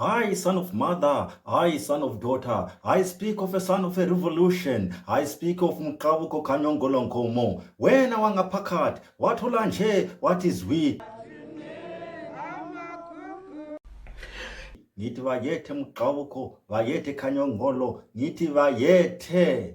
I, son of mother, I, son of daughter, I speak of a son of a revolution, I speak of Muqabuko Kanyongolonkomo. Wena wangapakat, wathola nje, what is we? Ngithi bayethe Muqabuko, bayethe Kanyongolo, ngithi bayethe.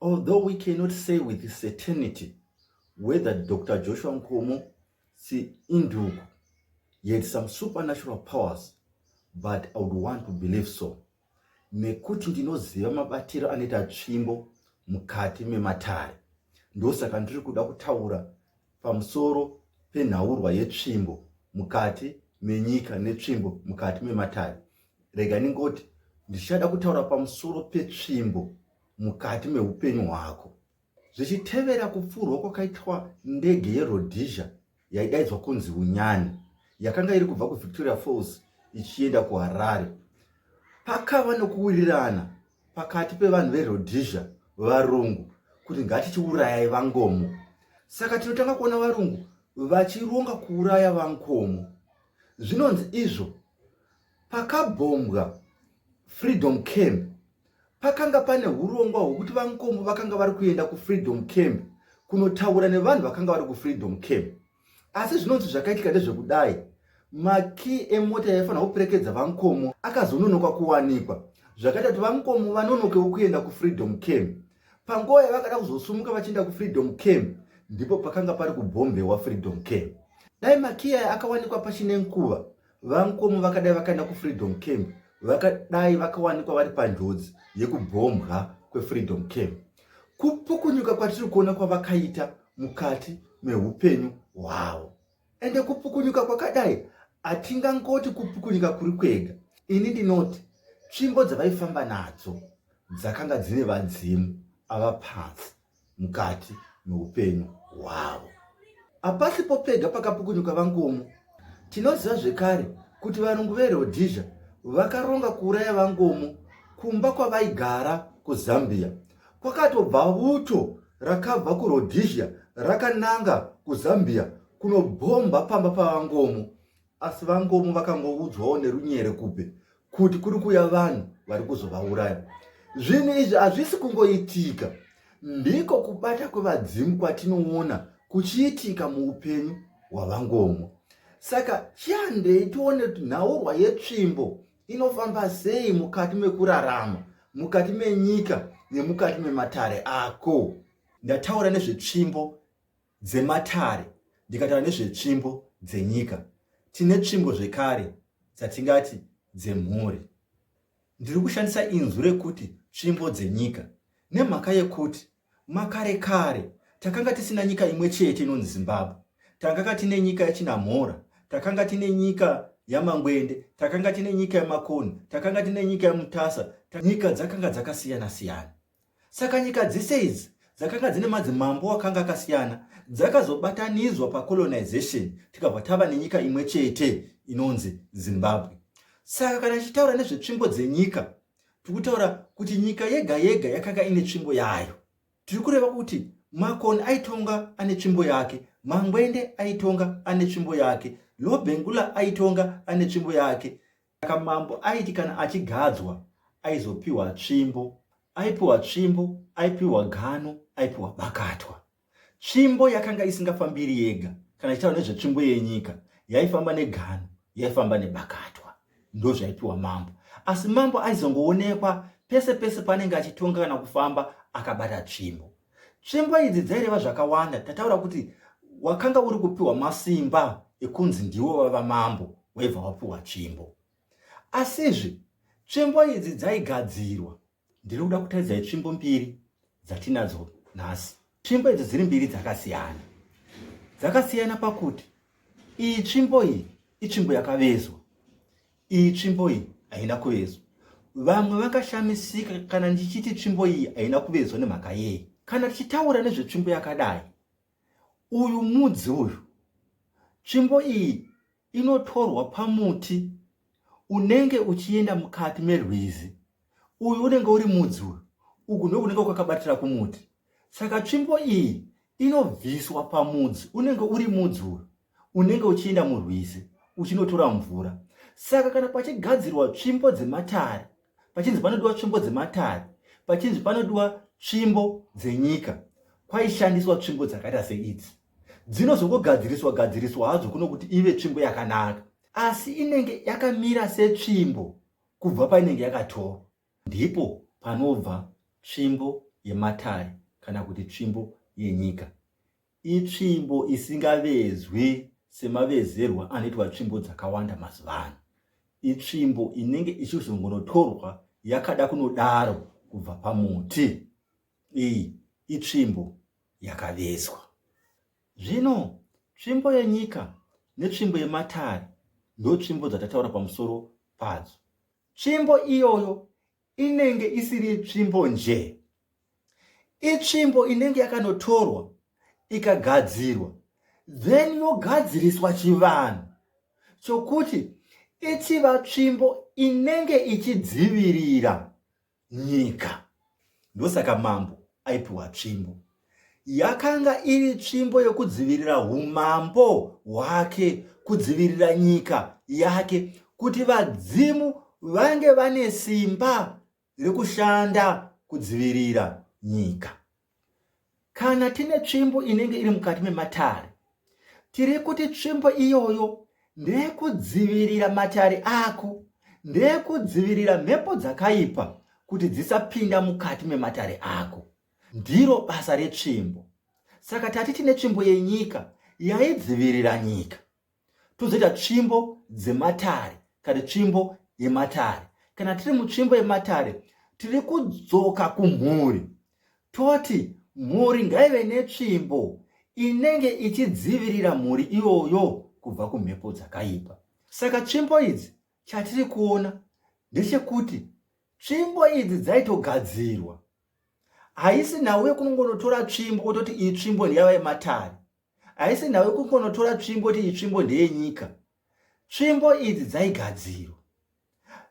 Although we cannot say with certainty whether Dr. Joshua Nkomo si induku he had some supernatural powers but I would want to believe so nekuti ndinoziva mabatiro anoita tsvimbo mukati mematare ndosaka ndiri kuda kutaura pamusoro penhaurwa yetsvimbo mukati menyika netsvimbo mukati mematare rega ndingoti ndichada kutaura pamusoro petsvimbo mukati meupenyu hwako zvichitevera kupfurwa kwakaitwa ndege yerhodesia yaidaidzwa kunzi unyani yakanga iri kubva kuvictoria falls ichienda kuharare pakava nokuwirirana pakati pevanhu verhodesia varungu kuti ngatichiurayai vangomo saka tinotanga kuona varungu vachironga kuuraya vankomo zvinonzi izvo Pakabhombwa Freedom Camp pakanga pane urongwa hwekuti vankombo vakanga vari kuenda kufreedom camp kunotaura nevanhu vakanga vari kufreedom camp asi zvinonzi zvakaitika ndezvekudai makii emota yaifanira kuperekedza vankomo akazononoka kuwanikwa zvakaita kuti vankomo vanonokewo kuenda kufreedom camp panguva yavakada kuzosumuka vachienda kufreedom camp ndipo pakanga pari kubhombewa freedom camp dai makii aya akawanikwa pachine nguva VaNkomo vakadai vakaenda kuFreedom Camp vakadai vakawanikwa vari panjodzi yekubhombwa kweFreedom Camp. Kupukunyuka kwatiri kuona kwavakaita mukati meupenyu hwavo ende kupukunyuka kwakadai hatingangoti kupukunyuka kuri kwega. Ini ndinoti tsvimbo dzavaifamba nadzo dzakanga dzine vadzimu ava pasi. mukati meupenyu hwavo. Hapasipo pega pakapukunyuka vangomo. Tinoziva zvekare kuti varungu veRhodesia vakaronga kuuraya vangomo kumba kwavaigara kuZambia. Kwakatobva vuto rakabva kuRhodesia rakananga kuZambia kunobhomba pamba pavangomo. Asi VaNgomo vakangoudzwawo nerunyere kupe kuti kuri kuya vanhu vari kuzovauraya. Zvinhu izvi hazvisi kungoitika, ndiko kubata kwevadzimu kwatinoona kuchiitika muupenyu hwaVaNgomo. Saka chiandei tione kuti nhaurwa yetsvimbo inofamba sei mukati mekurarama mukati menyika nemukati mematare ako ndataura nezvetsvimbo dzematare ndikataura nezvetsvimbo dzenyika. Tine tsvimbo zvekare dzatingati dzemhuri. Ndiri kushandisa inzwi rekuti tsvimbo dzenyika nemhaka yekuti makare kare takanga tisina nyika imwe chete inonzi zimbabwe takanga tine nyika yachinamhora takanga tine nyika yamangwende takanga tine nyika yamakonhi takanga tine nyika yamutasa nyika dzakanga dzakasiyana siyana Saka nyika dzese idzi dzakanga dzine madzimambo akanga akasiyana dzakazobatanidzwa pacolonization tikabva tava nenyika imwe chete inonzi zimbabwe saka kana tichitaura nezvetsvimbo dzenyika tiri kutaura kuti nyika yega yega yakanga ine tsvimbo yayo tiri kureva kuti makoni aitonga ane tsvimbo yake mangwende aitonga ane tsvimbo yake lobengula aitonga ane tsvimbo yake Saka mambo aiti kana achigadzwa aizopiwa tsvimbo, aipiwa tsvimbo, aipiwa gano, aipiwa bakatwa. Tsvimbo yakanga isingafambiri yega, kana ichitaura nezvetsvimbo yenyika, yaifamba negano, yaifamba nebakatwa, ndozvaipiwa mambo. Asi mambo aizongoonekwa pese pese panenge achitonga kana kufamba akabata tsvimbo. Tsvimbo idzi dzaireva zvakawanda. Tataura kuti wakanga uri kupiwa masimba ekunzi ndiwo vava mambo waibva wapiwa tsvimbo. Asizve tsvimbo idzi dzaigadzirwa. Ndiri kuda kutaridzai tsvimbo mbiri dzatinadzo nhasi. Tsvimbo idzi dziri mbiri dzakasiyana. Dzakasiyana pakuti iyi tsvimbo iyi itsvimbo yakavezwa. Iyi tsvimbo iyi haina kuvezwa. Vamwe vakashamisika kana ndichiti tsvimbo iyi haina kuvezwa nemhaka yei. Kana tichitaura nezvetsvimbo yakadai, uyu mudzi uyu, tsvimbo iyi inotorwa pamuti unenge uchienda mukati merwizi. Uyu unenge uri mudzi uyu, uku ndokunenge kwakabatira kumuti. Saka tsvimbo iyi inobviswa pamudzi unenge uri mudzi uyu. unenge uchienda murwizi uchinotora mvura saka kana pachigadzirwa tsvimbo dzematare pachinzi panodiwa tsvimbo dzematare pachinzi panodiwa tsvimbo dzenyika kwaishandiswa tsvimbo dzakaita seidzi dzinozongogadziriswa gadziriswa hadzo kuno kuti ive tsvimbo yakanaka asi inenge yakamira setsvimbo kubva painenge yakatorwa ndipo panobva tsvimbo yematare kana kuti tsvimbo yenyika Itsvimbo isingavezwi semavezerwa anoitwa tsvimbo dzakawanda mazuva ano. Itsvimbo inenge ichizongonotorwa yakada kunodaro kubva pamuti. Iyi itsvimbo yakavezwa. Zvino tsvimbo yenyika netsvimbo yematare ndotsvimbo dzatataura pamusoro padzo. Tsvimbo iyoyo inenge isiri tsvimbo nje itsvimbo inenge yakanotorwa ikagadzirwa then yogadziriswa chivanhu chokuti ichiva tsvimbo inenge ichidzivirira nyika ndosaka mambo aipiwa tsvimbo Yakanga iri tsvimbo yokudzivirira umambo hwake, kudzivirira nyika yake, kuti vadzimu vange vane simba rekushanda kudzivirira nyika. Kana tine tsvimbo inenge iri mukati mematare, tiri kuti tsvimbo iyoyo ndeyekudzivirira matare ako, ndeyekudzivirira mhepo dzakaipa kuti dzisapinda mukati mematare ako. Ndiro basa retsvimbo. Saka tati tine tsvimbo yenyika yaidzivirira nyika. Tozoita tsvimbo dzematare kana tsvimbo yematare. Kana tiri mutsvimbo yematare, tiri kudzoka kumhuri. Toti mhuri ngaive netsvimbo inenge ichidzivirira mhuri iyoyo kubva kumhepo dzakaipa. Saka tsvimbo idzi chatiri kuona ndechekuti tsvimbo idzi dzaitogadzirwa haisi nhau yekunongonotora tsvimbo ototi iyi tsvimbo ndeyava yematare haisi nhau yekungonotora tsvimbo oti iyi tsvimbo ndeyenyika tsvimbo idzi dzaigadzirwa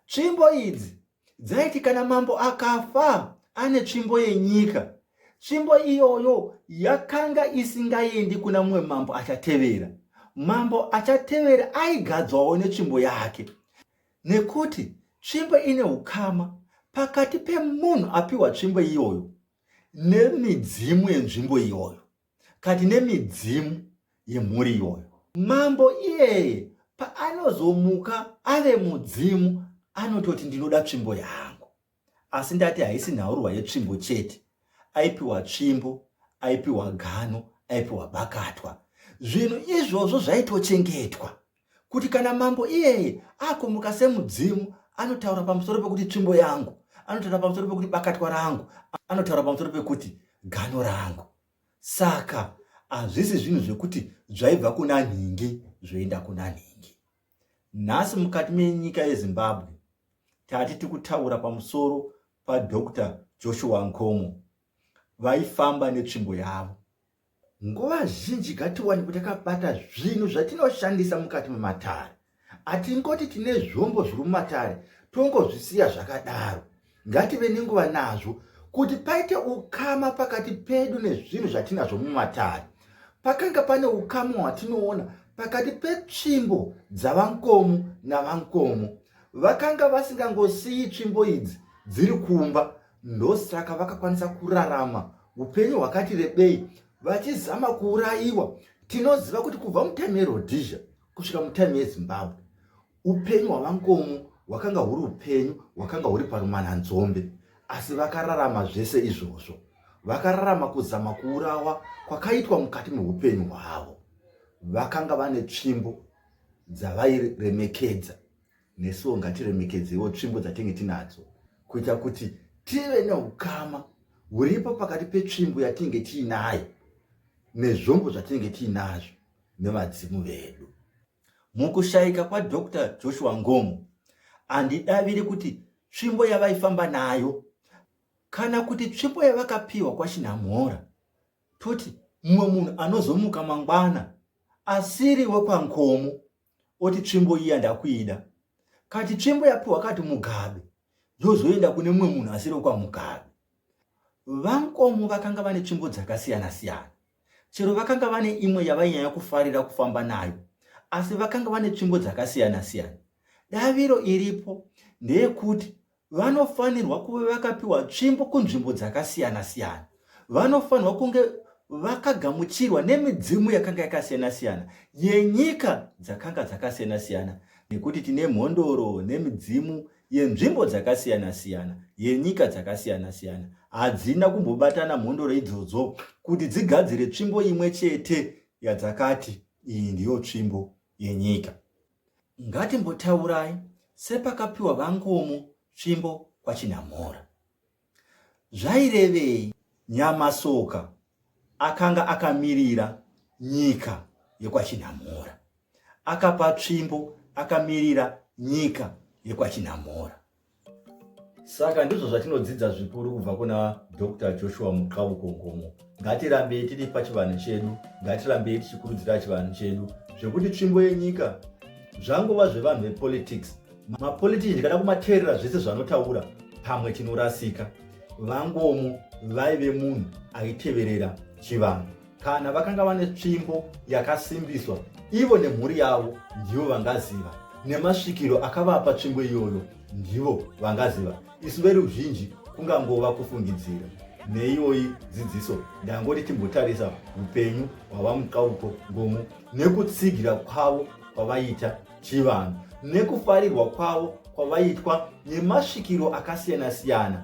tsvimbo idzi dzaiti kana mambo akafa ane tsvimbo yenyika tsvimbo iyoyo yakanga isingaendi kuna mumwe mambo achatevera mambo achatevera aigadzwawo netsvimbo yake Nekuti tsvimbo ine ukama pakati pemunhu apiwa tsvimbo iyoyo nemidzimu yenzvimbo iyoyo kati nemidzimu yemhuri iyoyo mambo iyeye paanozomuka ave mudzimu anototi ndinoda tsvimbo yangu asi ndati haisi nhaurwa yetsvimbo chete aipiwa tsvimbo aipiwa gano aipiwa bakatwa zvinhu izvozvo zvaitochengetwa kuti kana mambo iyeye akumuka semudzimu anotaura pamusoro pekuti tsvimbo yangu anotaura pamusoro pekuti bakatwa rangu anotaura pamusoro pekuti gano rangu saka hazvisi zvinhu zvekuti zvaibva kuna nhingi zvoenda kuna nhingi Nhasi mukati menyika yeZimbabwe tati tikutaura pamusoro paDr Joshua Nkomo vaifamba netsvimbo yavo. Nguva zhinji ngatiwanikwe takabata zvinhu zvatinoshandisa mukati mematare. Hatingoti tine zvombo zviri mumatare tongozvisiya zvakadaro. Ngative nenguva nazvo kuti paite ukama pakati pedu nezvinhu zvatinazvo mumatare. Pakanga pane ukama hwatinoona pakati petsvimbo dzavankomo navankomo. Vakanga vasingangosiyi tsvimbo idzi dziri kumba, ndosaka vakakwanisa kurarama upenyu hwakati rebei vachizama kuurayiwa tinoziva kuti kubva mutime yeRhodesia kusvika mutime yeZimbabwe Upenyu hwaVaNkomo hwakanga huri upenyu hwakanga huri parumananzombe, asi vakararama zvese izvozvo. Vakararama kuzama kuurawa kwakaitwa mukati meupenyu hwavo. Vakanga vane tsvimbo dzavairemekedza, nesuwo ngatiremekedzewo tsvimbo dzatinge tinadzo kuita kuti tive neukama huripo pakati petsvimbo yatinge tiinayo nezvombo zvatinge tiinazvo nevadzimu vedu. Mukushaika kwaDr Joshua Ngomo, handidaviri kuti tsvimbo yavaifamba nayo kana kuti tsvimbo yavakapiwa kwaChinhamhora, toti mumwe munhu anozomuka mangwana asiri wekwaNkomo oti tsvimbo iya ndakuida, kati tsvimbo yapiwa kati Mugabe yozoenda kune mumwe munhu asiri wekwaMugabe. VaNkomo vakanga vane tsvimbo dzakasiyana-siyana. Chero vakanga vane imwe yavainyanya kufarira kufamba nayo, asi vakanga vane tsvimbo dzakasiyana-siyana. Daviro iripo ndeyekuti vanofanirwa kuve vakapiwa tsvimbo kunzvimbo dzakasiyana-siyana. Vanofanirwa kunge vakagamuchirwa nemidzimu yakanga yakasiyana-siyana yenyika dzakanga dzakasiyana-siyana nekuti tine mhondoro nemidzimu yenzvimbo dzakasiyana-siyana yenyika dzakasiyana-siyana hadzina kumbobatana mhondoro idzodzo kuti dzigadzire tsvimbo imwe chete yadzakati iyi ndiyo tsvimbo yenyika ngatimbotaurai sepakapiwa vangomo tsvimbo kwachinamora Zvairevei? Nyamasoka akanga akamirira nyika yekwaChinhamora. Akapa tsvimbo akamirira nyika yekwaChinhamora. Saka ndizvo zvatinodzidza zvikuru kubva kuna Doctor Joshua Muqauko Nkomo. ngatirambei tiri pachivanhu chedu ngatirambei tichikurudzira chivanhu chedu zvekuti tsvimbo yenyika zvangova zvevanhu vepolitics mapolitiki ndikada kumateerera zvese zvanotaura pamwe tinorasika vangomo vaive munhu aiteverera chivanhu kana vakanga vane tsvimbo yakasimbiswa ivo nemhuri yavo ndivo vangaziva nemasvikiro akavapa tsvimbo iyoyo ndivo vangaziva isu veruzhinji kungangova kufungidzira neiyoyi dzidziso ndangoti timbotarisa upenyu hwavamukauko ngomu nekutsigira kwavo kwavaita chivanhu nekufarirwa kwavo kwavaitwa nemasvikiro akasiyana-siyana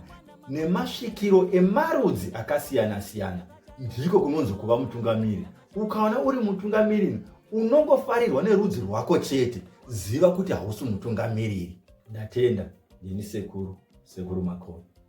nemasvikiro emarudzi akasiyana-siyana ndiko kunonzi kuva mutungamiri Ukaona uri mutungamiriri unongofarirwa nerudzi rwako chete, ziva kuti hausi mutungamiriri. Ndatenda, ndini sekuru, sekuru Makoni.